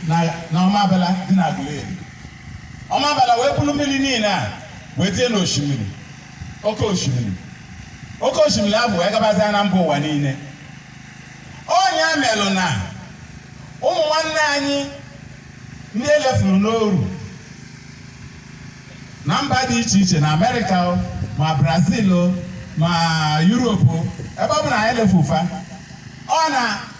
na na ọmabala dị na Aguleri ọmabala wee buru mmiri niile a wee tie n'osimiri oke osimiri oke osimiri ahụ wee gabazia na mba ụwa niile ọ nya melụ na ụmụ nwanne anyị ndị e lefuru n'oru na mba dị iche iche na amerịka o, ma brazil o, ma yuropu ebe ọ bụla anyị lefu fa ọ na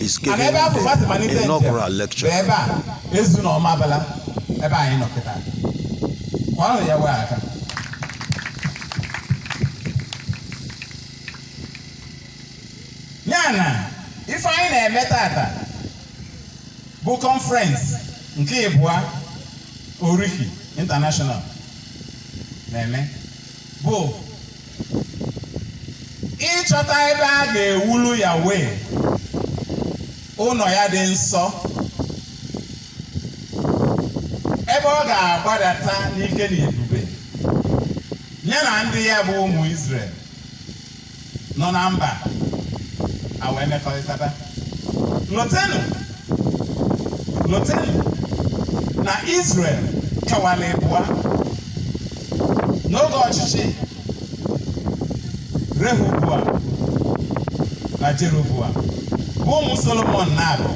is Ana giving ebe afụ fa si the malite njem inaugural bụ lecture. ebe a Ezu na Ọmabala ebe anyị nọ kịta kụanụ Yahweh aka ya na ife anyị na-eme tata bụ kọnferens nke ịbụa oriki international na-eme bụ ịchọta ebe a ga-ewulu Yahweh ụnọ ya dị nsọ ebe ọ ga-agbadata n'ike na ebube ya na ndị ya bụ ụmụ Izrel nọ na mba a wee mekọrịtaba lotenụ lotenụ na Israel kewara ịbụa n'oge ọchịchị Rehoboam na Jeroboam bụ ụmụ Solomon na-abụ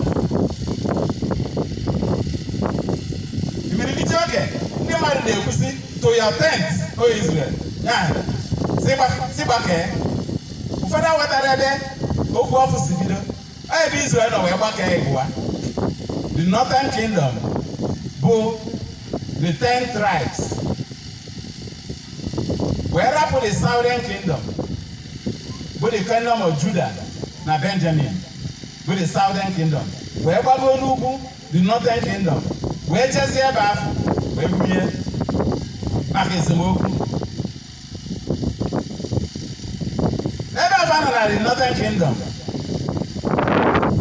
imirikiti oge ndị mmadụ na-ekwu sị to your tents o Israel ya si gbakee ụfọdụ wetara ebe okwu afụ si bido ebe Israel nọ wee gbakee ịbụa the northern kingdom bụ the ten tribes wee rapụ the southern kingdom bụ the kingdom of Judah na Benjamin bụ the southern kingdom wee gbago n'ugwu the northern kingdom wee jezie ebe afụ wee bunye maka esemokwu ebe afụ nọ na the northern kingdom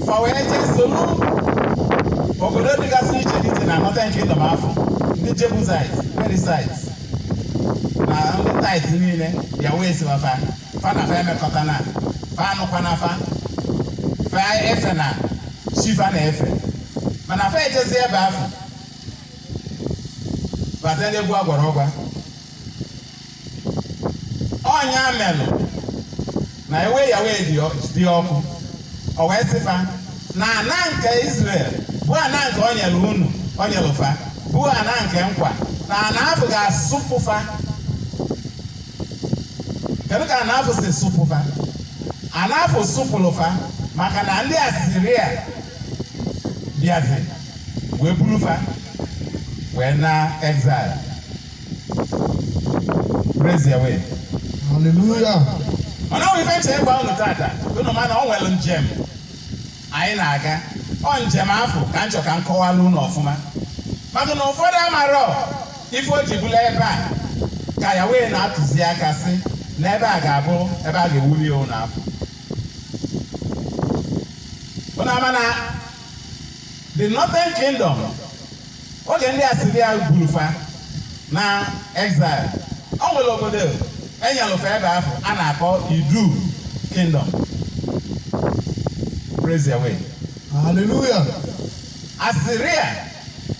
fa wee jee soro obodo dịgasị iche iche na northern kingdom afụ ndị Jebusite Perizzite na ndị tait niile Yahweh si gwa fa fa na fa emekọtana fa anụkwana fa fa efena chi fa na-efe mana fa ejezie ebe afụ bazie n'egwu agwara ọgwa ọ nya melụ na iwe Yahweh dị ọ- dị ọkụ ọ wee sị fa na ana nke Israel bụ ana nke o nyelu unu o nyelu fa bụ ana nke nkwa na ana afụ ga-asụpụ fa kedu ka ana afụ si sụpụ fa ana afụ sụpụlụ fa maka na ndị asiria bịazi wee buru fa wee na exile praise Yahweh Hallelujah. mana o nwe ife m chọ ịgwa unu tata unu ma na o nwere njem anyị na-aga ọ njem afụ ka m chọ ka m kọwara unu ọfụma maka na ụfọdụ amarọ ife o ji bụlụ ebe a ka Yahweh na-atụzi aka sị na ebe a ga-abụ ebe a ga-ewuli ya ụlọ afụ unu ama na the northern kingdom oge ndị asiria buru fa na exile o nwere obodo e nyelụ fa ebe afụ a na-akpọ idu kingdom praise Yahweh Hallelujah. asiria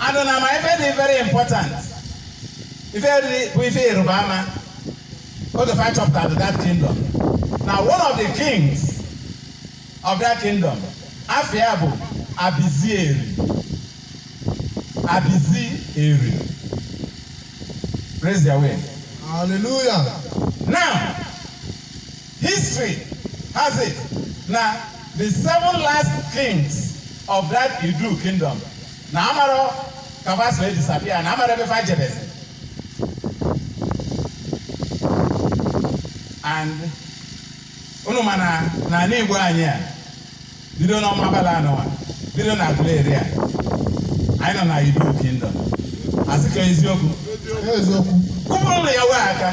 and unu ma ife dị very important ife dị bụ ife ịrịba ama otu ife m chọpụtara that kingdom na one of the kings of that kingdom afa ya bụ abizieri abizieri praise Yahweh Hallelujah. now History has it na the seven last kings of that Idu kingdom na amarọ ka fa si wee disappear na amarọ ebe fa jebezi and unu ma na n'ala Igbo anyị a bido n'Ọmambala nwa, bido n'Aguleri a anyị nọ na Idu Kingdom asị ka eziokwu eziokwu kụpụrụ nụ Yahweh aka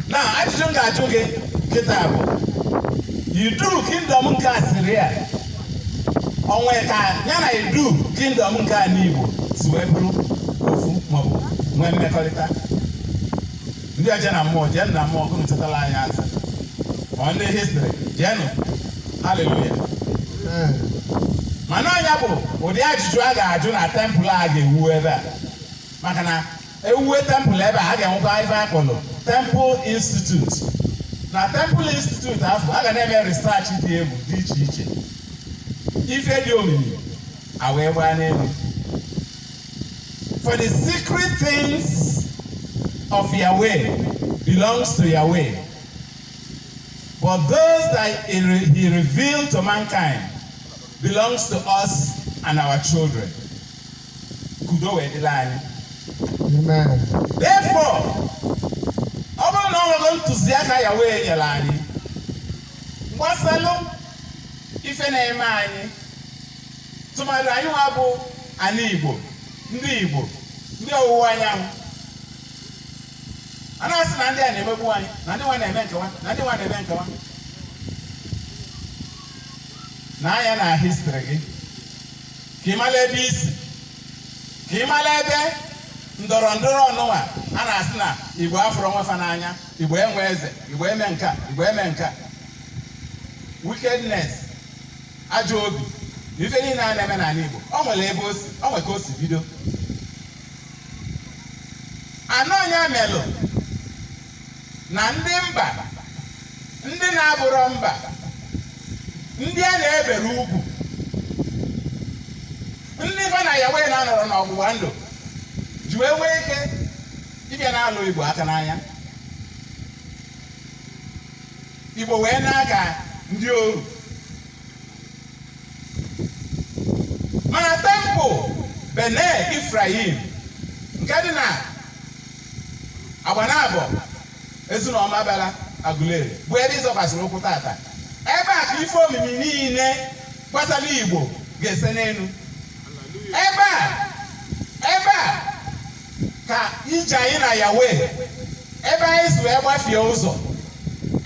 na ajụjụ m ga-ajụ gị kịta bụ idu kingdom nke asiria o nwe ka ya na idu kingdom nke a n'igbo si wee bụrụ ofu maọbụ nwee mmekọrịta ndị eje na mmụọ jeenụ na mmụọ ka unu jụtala anyị ase ọ ndị history jeenụ haleluya mana ọ ya bụ ụdị ajụjụ a ga-ajụ na temple a ga-ewu ebe a maka na ewuwe temple ebe a a ga-enwekwa ife a kpọrọ temple institute na temple institute afụ a ga na-eme research dị egwu dị iche iche ife dị omimi a wee gbaa n'anwụ For the secret things of Yahweh belongs to Yahweh. But those that he re- he revealed to mankind belongs to us and our children. Ka udo wee dịlị anyị. Amen. Therefore, ọ bụrụ na o nwere ntụziaka Yahweh nyere anyị, gbasalụ ife na-eme anyị, tụmadị anyị nwa bụ ana Igbo ndị Igbo ndị ọwụwa anyanwụ a na-asị na ndị a na-emegbu anyị na ndị nwa na-eme nkewa na ndị nwa na-eme nkewa nee anya na history gị ka ị mara ebe i si ka ị mara ebe ndọrọ ndọrọ ọnụnwa a na-asị na igbo afụrọ onwe fa n'anya igbo enwe eze igbo eme nka igbo eme nka wickedness ajọ obi na ife niile a na-eme n'ana Igbo o nwere ebe o si o nwere ka o si bido na ọ ya melụ na ndị mba ndị na-abụrọ mba ndị a na-eberọ ugwu ndị fa na Yahweh na-anọrọ n'ọgbụgba ndụ ji wee nwee ike ịbịa na-alụ Igbo aka n'anya Igbo wee na-aga ndị oru mana temple Bene Ephraim nke dị na Agbanabọ Ezu na Ọmabala Aguleri bụ ebe ị zọkwasịrị ụkwụ tata ebe a ka ife omimi niile gbasara Igbo ga-ese n'elu ebe a ka ije anyị na Yahweh ebe anyị si wee gbafie ụzọ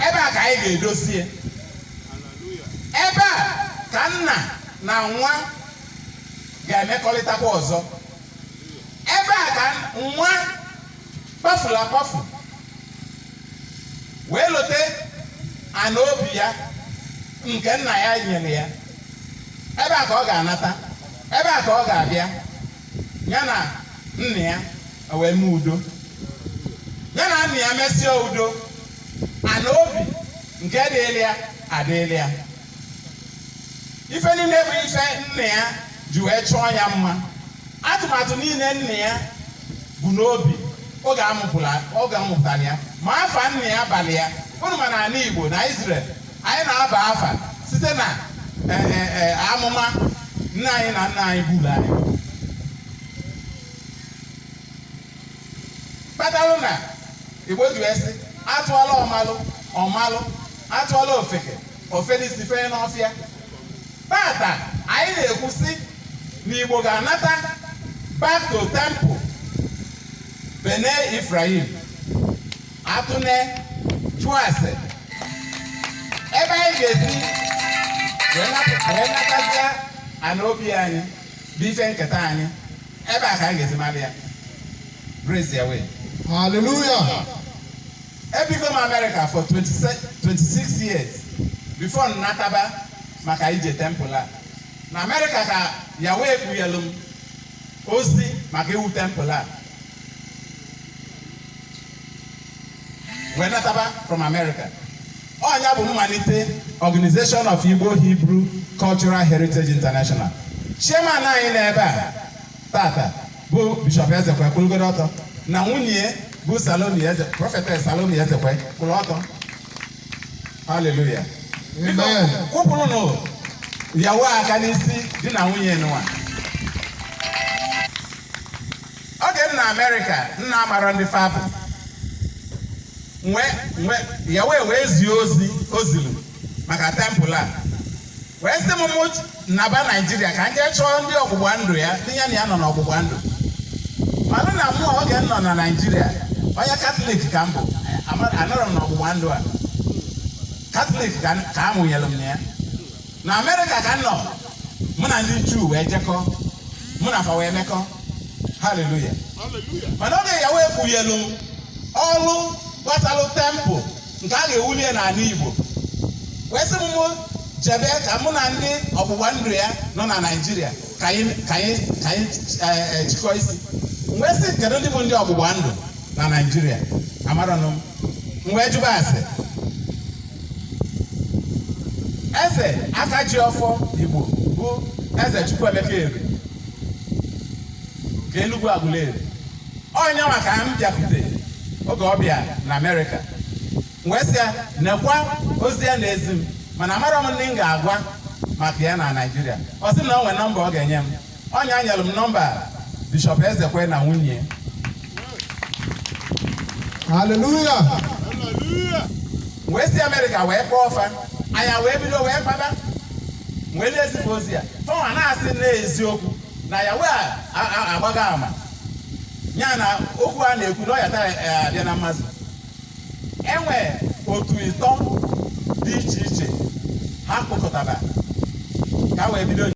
ebe a ka anyị ga-edozie ebe a ka nna na nwa ga-emekọrịtakwa ọzọ ebe a ka nwa kpafuru akpafu wee lote ana obi ya nke nna ya nyere ya ebe a ka ọ ga-anata ebe a ka ọ ga-abịa ya na nna ya wee mee udo ya na nna ya mesịa udo ana obi nke dịịrị ya adịịrị ya ife niile bụ ife nna ya ji wee chọọ ya mma atụmatụ niile nna ya bu n'obi oge a mụpụtara ya ma afa nna ya balụ ya ụfọdụ ma na ana Igbo na Israel anyị na-aba afa site na e, e, e, amụma nne anyị na nna anyị buru anyị kpatalụ na igbo ji wee sị a tụọlụ ọmalụ ọ malụ a tụọlụ ofeke o fenie isi fenye n'ọfịa tata anyị na-ekwu sị na igbo ga-anata back to temple bene Ephraim atụne jụọ ase ebe anyị ga-esi wee nap- wee natazia ana obi anyị bụ ife nketa anyị ebe a ka anyị ga-esi mara ya praise Yahweh Hallelujah. ebigo m amerịka for 26 26 years before m nataba maka ije tempụl a na amerịka ka Yahweh kpughelu m ozi maka iwu tempụl a wee nataba from America ọ nya bụ mmalite Organization of Igbo Hebrew Cultural Heritage International chairman anyị n'ebe a tata bụ Bishop Ezekwe kwụlụgodo ọtọ na nwunye bụ Salome Eze prọfetes Salome Ezekwe kwụrụ ọtọ haleluya kụpụrụnụ Yahweh aka n'isi di na nwunye nụwa oge m nọ amerịka m na-amarọ ndị fa bụ Yahweh wee zie ozi o zilu maka tempụl a wee sị m mụ naba naijiria ka m jee chọọ ndị ọgbụgba ndụ ya ndị ya na ya nọ n'ọgbụgba ndụ mana na mụ oge m nọ na naijiria onye katọlik ka m bụ anọrọ m n'ọgbụgba ndụ a katọlik ka a mụnyere m na ya na amerịka ka m nọ mụ na ndị juu wee jekọ mụ na fa wee mekọ haleluya mana oge Yahweh kpughelu m ọrụ gbasalụ tempụl nke a ga-ewuli ya n'ala igbo wee sị m mụ jebe ka mụ na ndị ọgbụgba ndụ ya nọ na naijiria ka anyị ka anyị ka anyị eh, eh, jikọọ isi m wee sị kedu ndị bụ ndị ọgbụgba ndụ na naijiria amarọnụ m m wee jụba ase eze aka ji ọfọ igbo bụ eze chukwuemeka eri nke enugwu agụleri onye maka m bịakwute oge ọ bịa na amerịka m wee sị ya nekwa ozi ya na-ezi m mana amarọ m ndị m ga-agwa maka ya na naijiria ọ sị na o nwere nọmba ọ ga-enye m Onye e nyere m nọmba Bishọp Ezekwe na nwunye. Haleluya. Wee si Amerịka wee kpọọ fa, anyị wee bido wee kpaba, m wee na-ezi fa ozi a. Fa nwa na-asị n'eziokwu na Yahweh agbago ama. Ya na okwu a na-ekwu na ọ ya tara eh, abịa na mmezu. E nwe otu ịtọ dị iche iche ha kpọkọtara ka wee bido